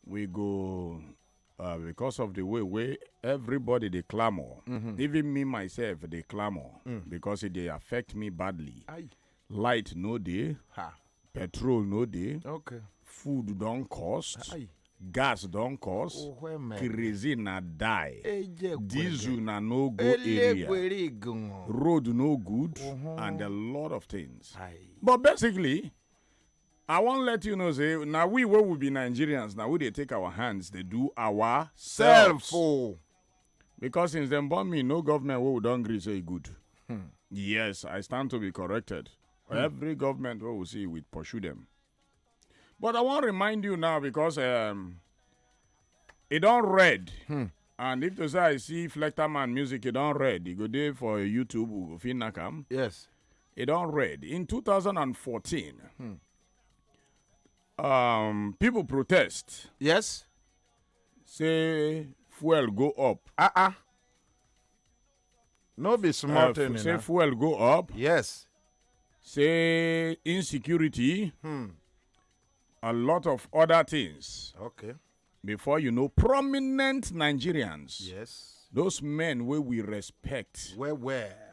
we go uh, because of the way way everybody they clamor mm -hmm. even me myself they clamor mm. because it they affect me badly Aye. light no day ha. petrol no day okay food don't cost Aye. gas don't cost oh, crazy na die eh, diesel na no go eh, area road no good uh -huh. and a lot of things Aye. but basically i wan let you know say na we wey we be nigerians na we dey take our hands dey do our self o oh. because since dem born me no government wey we don gree say e good hmm. yes i stand to be corrected hmm. every government wey we see we pursue dem but i wan remind you now because um, e don red hmm. and if to say i see flecter man music e don red e go dey for youtube we go fit knack am yes e don red in 2014 hmm. um, people protest yes say fuel go up ah ah no be small uh, thing say fuel go up yes say insecurity hmm. a lot of other things okay before you know prominent nigerians yes those men where we respect where where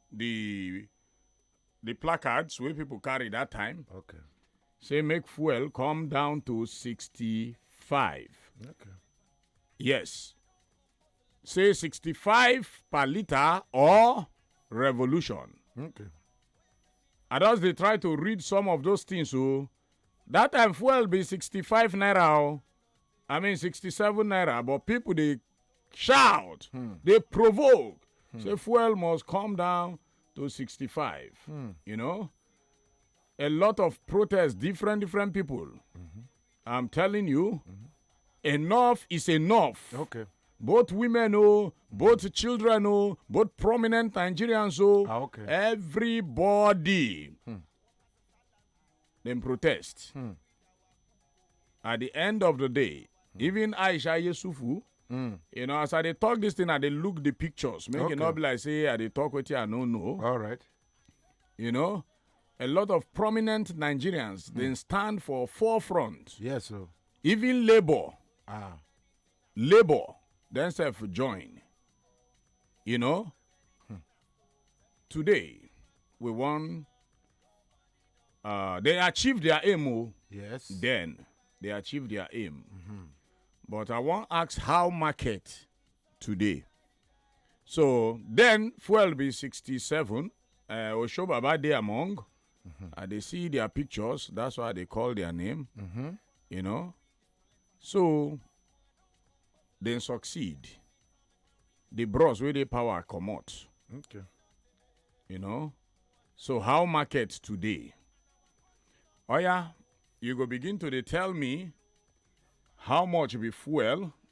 the the placards wey people carry that time okay. say make fuel come down to 65 okay. yes say 65 per liter or revolution okay. i just dey try to read some of those things o. Oh. So, that time fuel be 65 naira o i mean 67 naira but people dey shout hmm. dey provoke hmm. say fuel must come down to 65 hmm. you know a lot of protests different different people mm-hmm. i'm telling you mm-hmm. enough is enough okay both women oh both children oh both prominent nigerians oh ah, okay. everybody hmm. dem protest hmm. at the end of the day hmm. even aisha yesufu hmm. you know as i dey talk this thing i dey look the pictures make okay. e no be like say i dey talk wetin i no know all right you know a lot of prominent nigerians mm. dey stand for forefront yes sir. even labour ah. labour dem sef join you know hmm. today we wan uh, they achieve their aim o oh. yes then they achieve their aim mm -hmm. but i wan ask how market today so then fuel be 67 uh, osho baba dey among mm -hmm. i dey see their pictures that's why i dey call their name mm -hmm. you know so dem succeed the bros wey dey power comot Okay. you know so how market today oya you go begin to dey tell me how much be fuel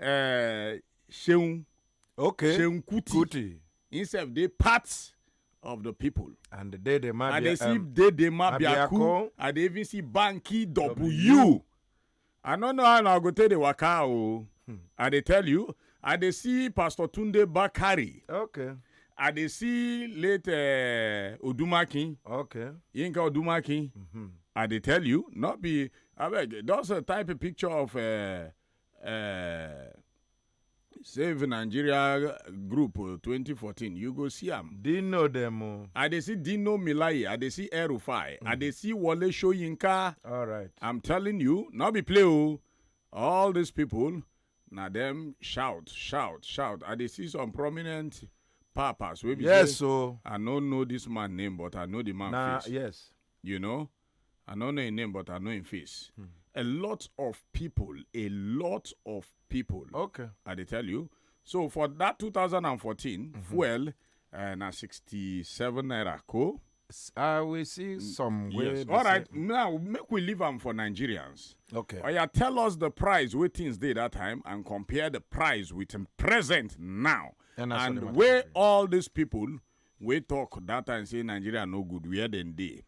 uh, Sheung okay Sheung Kuti, Kuti. himself dey part of the people. and dede mabia i dey see um, dede mabiaku i dey even see banki w i no know how na go take dey waka o hmm. i dey tell you i dey see pastor tunde bakari. okay. I dey see late uh, Odumakin. Okay. Yinka Odumakin. Mm-hmm. I dey tell you, not be. I beg, just uh, type a picture of uh, uh, save nigeria group 2014 you go see am dino dem o i dey see dino milaye i dey see erufai i dey see wole soyinka all right i'm telling you no be play o all these people na dem shout shout shout i dey see some prominent papas wey be yes o i no know this man name but i know the man face yes you know I no know im name but I know im face. Hmm. A lot of people, a lot of people. Okay. I dey tell you. So for that 2014 mm -hmm. fuel uh, na 67 naira ko. I will see mm, some way. Yes. All right. Say... Now make we leave am for Nigerians. Okay. Oya oh, tell us the price wey things dey that time and compare the price with the present now. And, and where all these people wey talk that time say Nigeria no good where dem dey.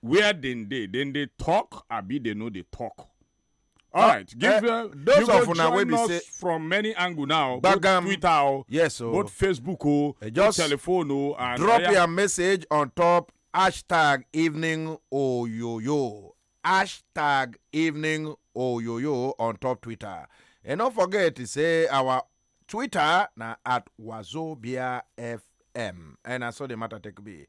where dem dey dem dey talk abi dem no dey talk all right give eh, uh, those you of go una wey join be us say- from many angle now both Gbagam. twitter o yes o both facebook o Eh, both just telephone o and drop oya, your message on top hashtag evening oyoyo hashtag evening oyoyo on top twitter and don't forget to say our twitter na at wazobia fm and na so the matter take be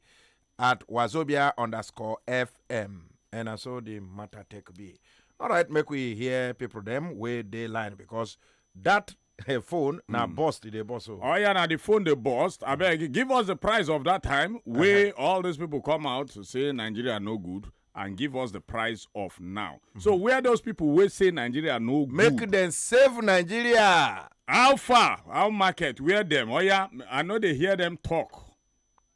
at wazobia underscore fm and na so the matter take be all right make we hear people dem wey dey line because that eh, phone na burst e dey burst o. Oh yeah, now the phone they bust. I beg, give us the price of that time where all these people come out to say Nigeria no good and give us the price of now. So where those people will say Nigeria no good? make dem save nigeria. how far? How market? Where them? Oh yeah, I know they hear them talk.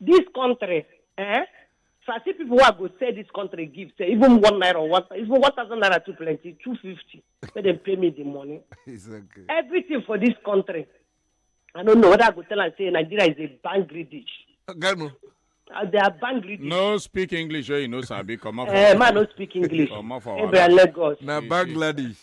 This country, eh? If I see people who are go sell this country give, say even one naira or one, even one thousand naira too plenty, two fifty. Let them pay me the money. It's okay. Everything for this country. I don't know whether I go tell and say Nigeria is a bangry dish. Ganu. Uh, they are bangry dish. No speak English, eh? You know, Sabi, come up. Eh, man, no speak English. Come up for Maybe I Lagos. Na Bangladesh.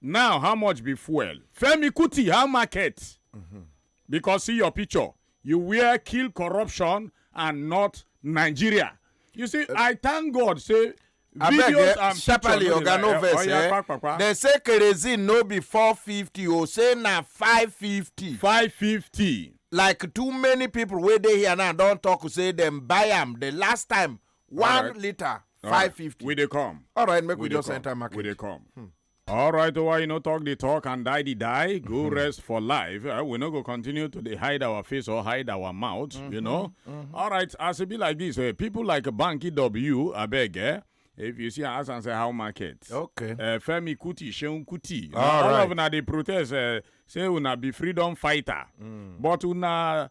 now how much be fuel femi kuti how market because see your picture you wear kill corruption and not nigeria you see i thank god say abeg videos eh, and sharply picture oga no dey like, vex oya, eh pa, pa, pa. dem say kerosene no be four fifty o say na five fifty 550 like too many people wey dey here now don talk say dem buy am the last time one right. liter right. five fifty. we dey come. all right make we, we just come. enter market. we dey come. Hmm. All right, why well, you know talk the talk and die the die. Go mm-hmm. rest for life. Uh, we no go continue to hide our face or hide our mouth. Mm-hmm. You know. Mm-hmm. All right, as it be like this, uh, people like Banky W, I beg, eh? If you see us and say how market. Okay. Uh, Femi Kuti, Sheun Kuti. All, all right. of una they protest. Uh, say una be freedom fighter, mm. but una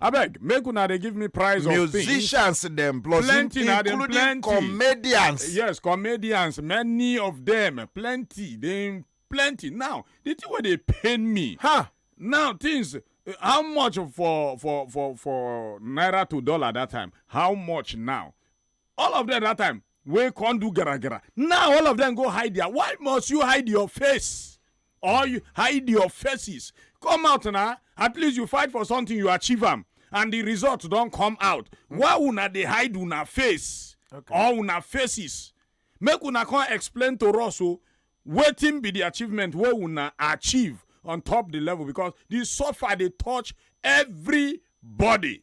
abeg make una dey give me price of things musicians dem plus Plenty in- na dem, including plenty. comedians yes comedians many of them plenty dey plenty now the thing wey dey pain me huh now things uh, how much for for for for naira to dollar that time how much now all of them that time wey come do gara gara now all of them go hide their why must you hide your face or you hide your faces come out na at least you fight for something you achieve am and the result don come out why una dey hide una face or una faces make una come explain to us o wetin be the achievement wey una achieve on top the level because the suffer dey touch everybody.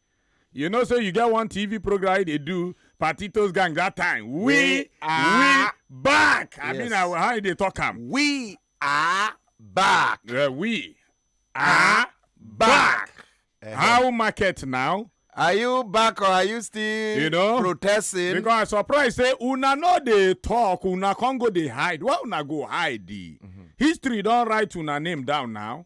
You know, say you get one TV program wey dey do Patitos Gang that time. We, We we are- back. I mean, Yes. I, how you dey talk am? We are back. Uh, we are back. Eh, How market now? Are you back or are you still You know, protesting? Because I surprised say una no dey talk, una con go dey hide. Why una go hide? History don write una name down now.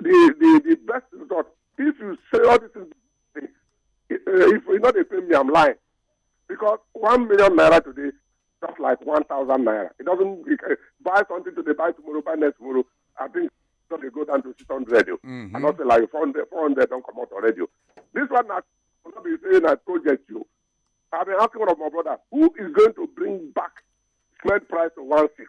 the the the best result if you say all this thing eh, if you no dey pay me i'm lying because one million naira today just like one thousand naira it doesn't it, eh, buy something today buy tomorrow buy next tomorrow i think don dey go down to six hundred o Mhm. i don say like four hundred four hundred don comot already o this one na no be say na project o i been asking one of my brother who is going to bring back cement price to one six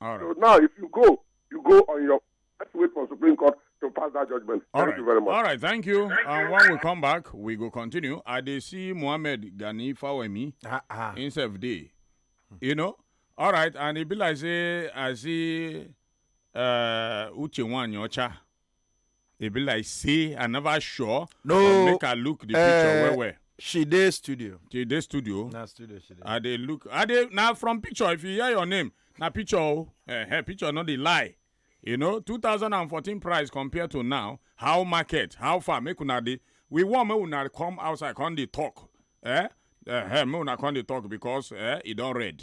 All right. So now, if you go, you go on your. Let's wait for Supreme Court to pass that judgment. All thank right. you very much. All right, thank you. Thank and you. when we come back, we go continue. I dey see Mohammed Gani Fawemi uh ah, -uh. Ah. in self day. You know? All right, and it be like say I see uh Uche Wanyocha. e be like say i never sure No, but make i look the eh, picture well well She dey studio. till dey studio Na studio she dey. i dey look i dey na from picture if you hear your name na picture o eh, eh, picture no dey lie you know 2014 price compare to now how market how far make una dey we wan make una come outside come dey talk eh, eh, eh, make una come dey talk because eh, e don red.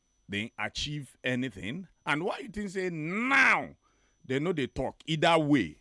dem achieve anything and why you think say now dem no dey talk either way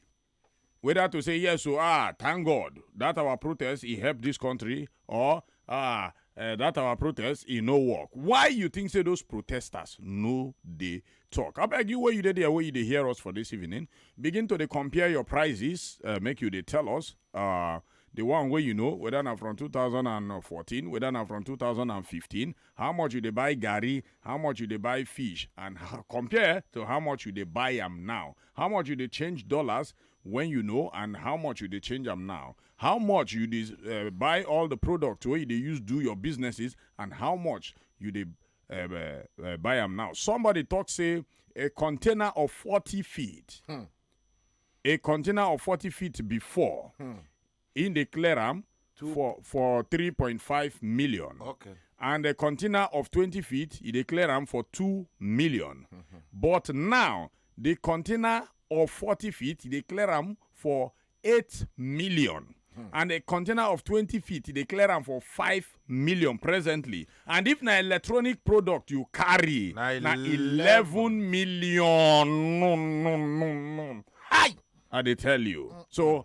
whether to say yes o ah thank god that our protest e help this country or ah uh, that our protest e no work why you think say those protesters no dey talk abeg you wey you dey there wey you dey hear us for this evening begin to dey compare your prices uh, make you dey tell us uh, the one wey you know whether na from 2014 whether na from 2015 how much you dey buy garri how much you dey buy fish and h- compare to how much you dey buy am now how much you dey change dollars when you know and how much you dey change am now how much you dey uh, buy all the product wey you dey use do your businesses and how much you dey uh, uh, uh, buy am now somebody talk say a container of 40 feet a container of 40 feet before He dey clear am for for 3.5 million. Okay. And a container of 20 feet, he dey clear am for 2 million. But now, the container of 40 feet, he dey clear am for 8 million. And a container of 20 feet, he dey clear am for 5 million presently. And if na electronic product you carry, Na na 11 million. No, no, no, no. Hi! I dey tell you. So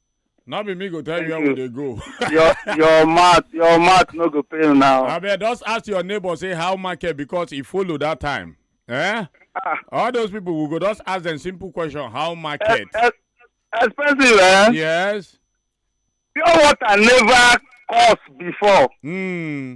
no be me go tell you Thank where we you. dey go your your mouth your mouth no go pain now. abeg just ask your neighbor say how market because e follow that time eh Ah, all those people we go just ask them simple question how market ex- ex- expensive eh. yes pure water never cost before. hmm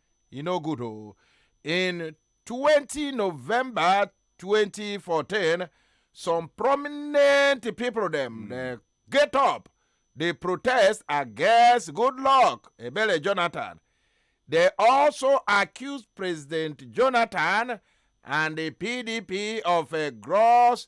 e no good o in twenty november twenty fourteen some prominent pipo dem dey get up dey protest against goodluck ebele jonathan dey also accuse president jonathan and di pdp of a gross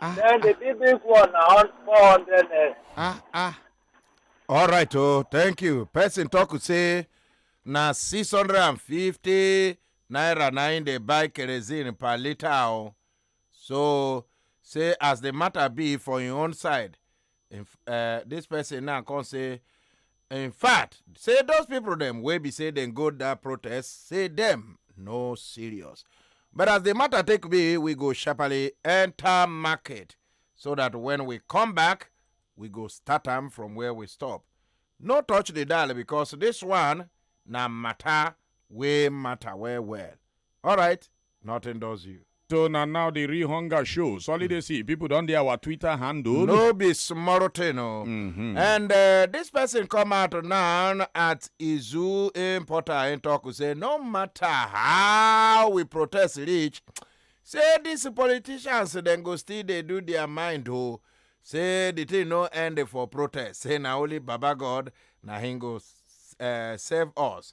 Ah, Then the big big one na hun- 400 naira. ah, ah. All right, oh, thank you. Person talk to say na 650 naira na im dey buy kerosene per litre o. So say as the matter be for im own side, in f- uh, this person now come say in fact say those people dem wey be say dem go that protest say dem no serious but as the matter take be we go sharply enter market so that when we come back we go start am from where we stop no touch the dial because this one na matter wey matter well well alright Nothing does you. So na now the real hunger show. Solidacy, people don dey our Twitter handle. No be small thing o. Mm-hmm. And uh, this person come out now at Izu importer and talk say no matter how we protest reach, say these politicians dem go still dey do their mind o. Say the thing no end for protest. Say na only Baba God na him go uh, save us.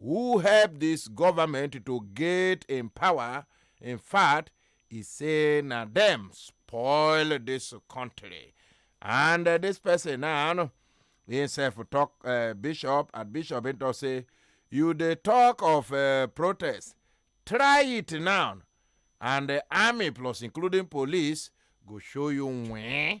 who help dis govament to get in power in fact e say na dem spoil dis kontri and dis pesin now himsef tok bishop and bishop im tok say you dey tok of protest try it now and army plus including police go show you wen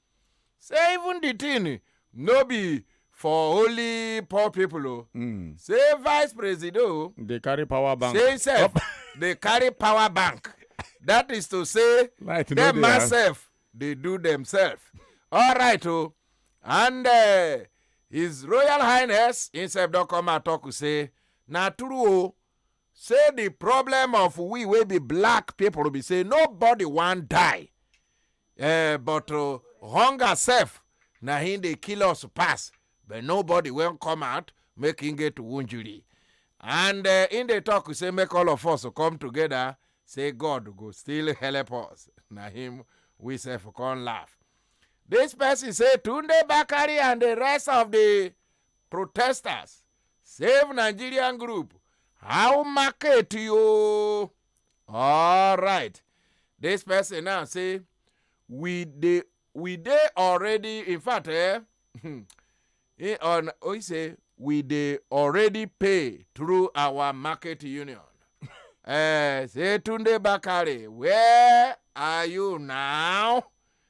say even the thing no be for only poor people o hmm. say vice president o dey carry power bank say himself dey carry power bank that is to say dem myself dey do themselves all right o oh. and uh, his royal highness himself don come out talk say na true o oh, Say di problem of we wey be black pipo be say nobody wan die eh but hunger sef na hin dey kill us pass but nobody wan come out make hin get wunjuri and hin dey tok say make all of us come togeda say God go still helep us na him we sef come laugh. Dis pesin say Tunde Bakari and di rest of di protesters save nigerian group how market yo alright this person now say we dey we dey already in fact eh, he on oh, he say we dey already pay through our market union eh, say tunde bakare where are you now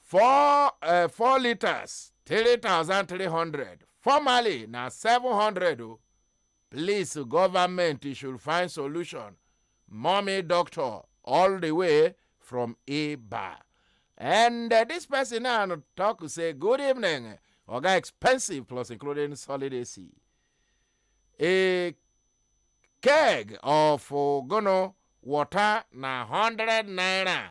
four uh, four liters three thousand three hundred formerly na seven hundred o please government you should find solution mommy doctor all the way from iba and uh, this person now talk say good evening oga expensive plus including solid ac a keg of ogono water na hundred naira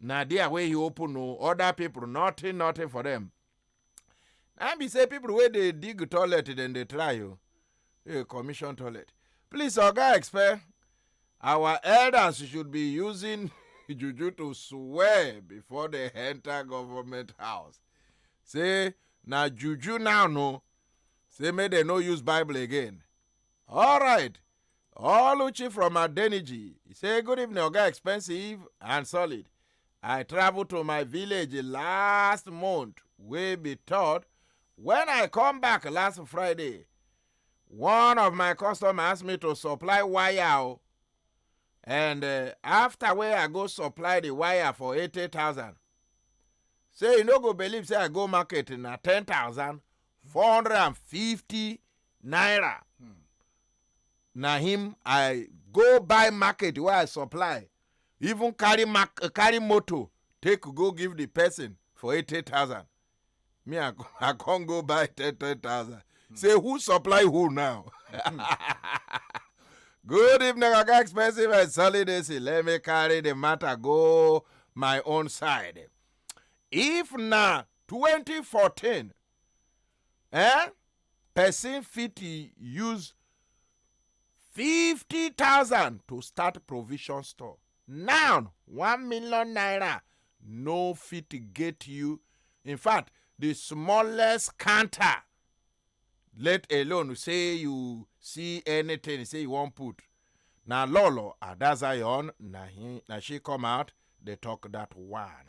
na there wey he open o other people nothing nothing for them na be say people wey dey dig toilet dem dey try o hey, commission toilet please oga expel our elders should be using juju to swear before they enter government house say na juju now no say make dem no use bible again all right Oluchi from Adeniji. He say, good evening, Oga Expensive and Solid. I travel to my village last month, wey be third. When I come back last Friday, one of my customer ask me to supply wire o. And uh, after wey I go supply the wire for 80,000, say you no go believe say I go market na 10,450 naira. na him i go buy market wey i supply even carry mark carry motor take go give the person for eighty thousand me i co- i come go buy ten ten thousand say who supply who now good evening oga expensive and solid ac let me carry the matter go my own side if na twenty fourteen eh person fit use fifty thousand to start provision store now one million naira no fit get you in fact the smallest counter let alone say you see anything say you wan put na lolo adazion na him na she come out dey talk that one.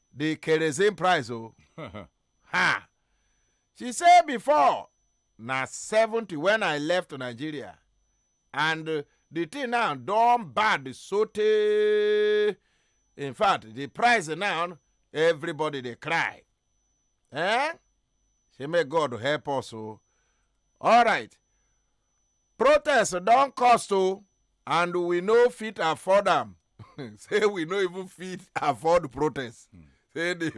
the kerosene price o oh. ha she say before na seventy when i left nigeria and uh, the thing now don bad sotey in fact the price now everybody dey cry eh say may god help us o oh. all right Protest don cost o and we no fit afford am. Say we no even fit afford protest. Say the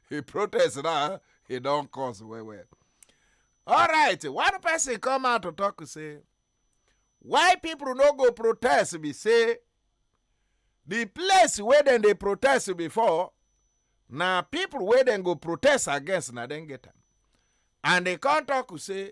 the protest now e don cost well well. Alright, one person come out to talk say why people no go protest be say the place wey dem dey protest before na people wey dem go protest against na dem get am. And e come talk say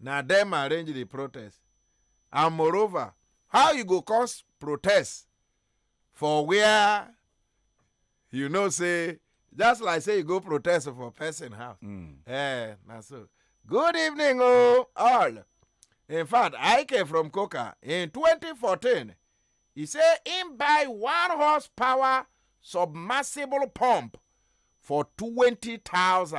Na dem arrange di protest and moreover how you go come protest for where you know say just like say you go protest for person house. Mm. Eh, na so. Good evening, oh, all. In fact, I came from Coca in 2014. He say him buy one horsepower submersible pump for 20,000.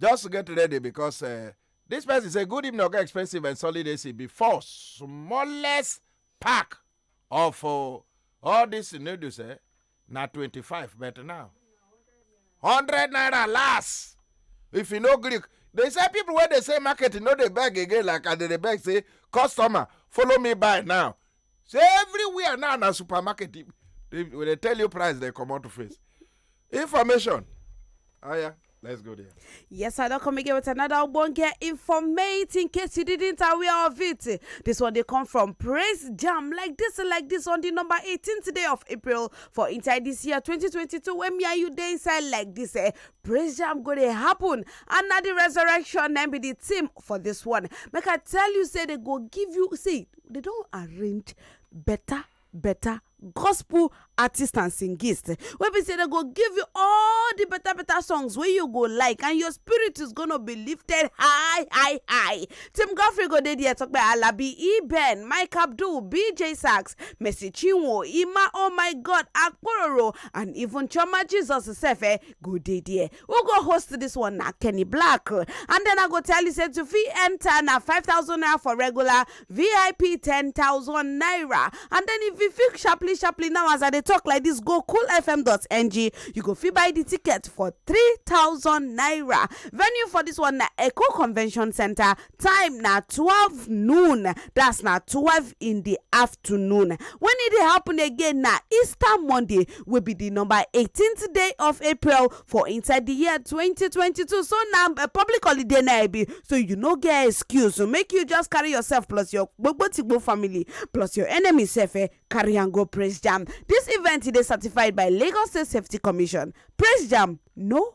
Just get ready because uh, this person say good evening, okay, expensive and solid AC before smallest pack of uh, all these noodles, eh? Now 25, but now 100 naira last. If you know Greek, they say people when they say market, you know they beg again, like and they beg say customer, follow me by now. say everywhere now na supermarket they, they, they tell you price they come out to face information oh yeah Let's go there. Yes, I don't come again with another Obonge informate in case you didn't aware of it. This one they come from Praise Jam like this like this on the number 18th day of April for inside this year 2022 when me and you day inside like this. Eh, Praise Jam go to happen and now the resurrection and be the team for this one. Make I tell you say they go give you see Dem don arrange beta beta gospel artist and singist wey be say dem go give you all the better better songs wey you go like and your spirit is gonna be lifted high high high tim godfrey go dey there talk about alabi eben mike abdul bj sax mercy chinwo ima oh my god akpororo and even chioma jesus sef eh go dey there Who go host this one na Kenny Black and then I go tell you say to fit enter na 5000 naira for regular VIP 10000 naira and then if you fit sharply sharply now as I dey talk like this go coolfm.ng you go fit buy the ticket for 3000 naira venue for this one na Echo Convention Center time na twelve noon that's na twelve in the afternoon when e dey happen again na easter monday wey be the number eighteenth day of april for inside the year twenty twenty two so na eh, public holiday na e be so you no get excuse so make you just carry yourself plus your gbogbo tigbo family plus your enemy sef eh, carry am go praise jam this event e dey certified by lagos state safety commission praise jam no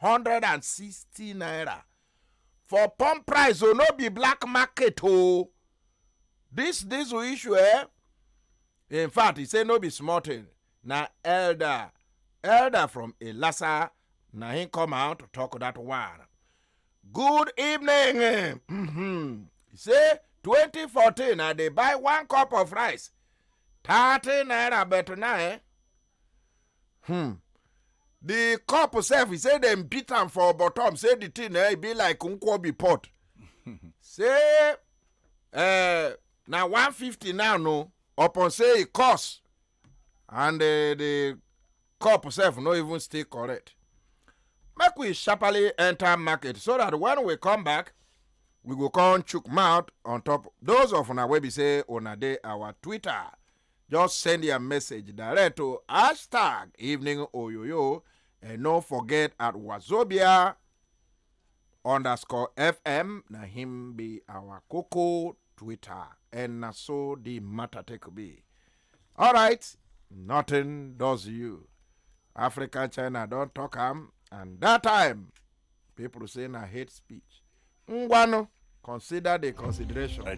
hundred and sixty naira for pump price o no be black market o this diesel issue eh in fact e say no be small thing na elder elder from elasa na him come out to talk that one good evening eh, mhm. e say 2014 i dey buy one cup of rice 30 naira but now eh hmm the cup sef he say dem beat am for bottom say the thing eh, e be like nkwobi pot say eh, na one fifty now no upon say e cost and eh, the cup sef no even stay correct make we sharply enter market so that when we come back we go come chook mouth on top those of una wey be say una dey our twitter just send your message direct to hashtag evening oyoyo and no forget at wazobia underscore fm na him be our coco twitter and na so the matter take be all right nothing does you africa china don talk am and that time people say na hate speech ngwanu consider the consideration.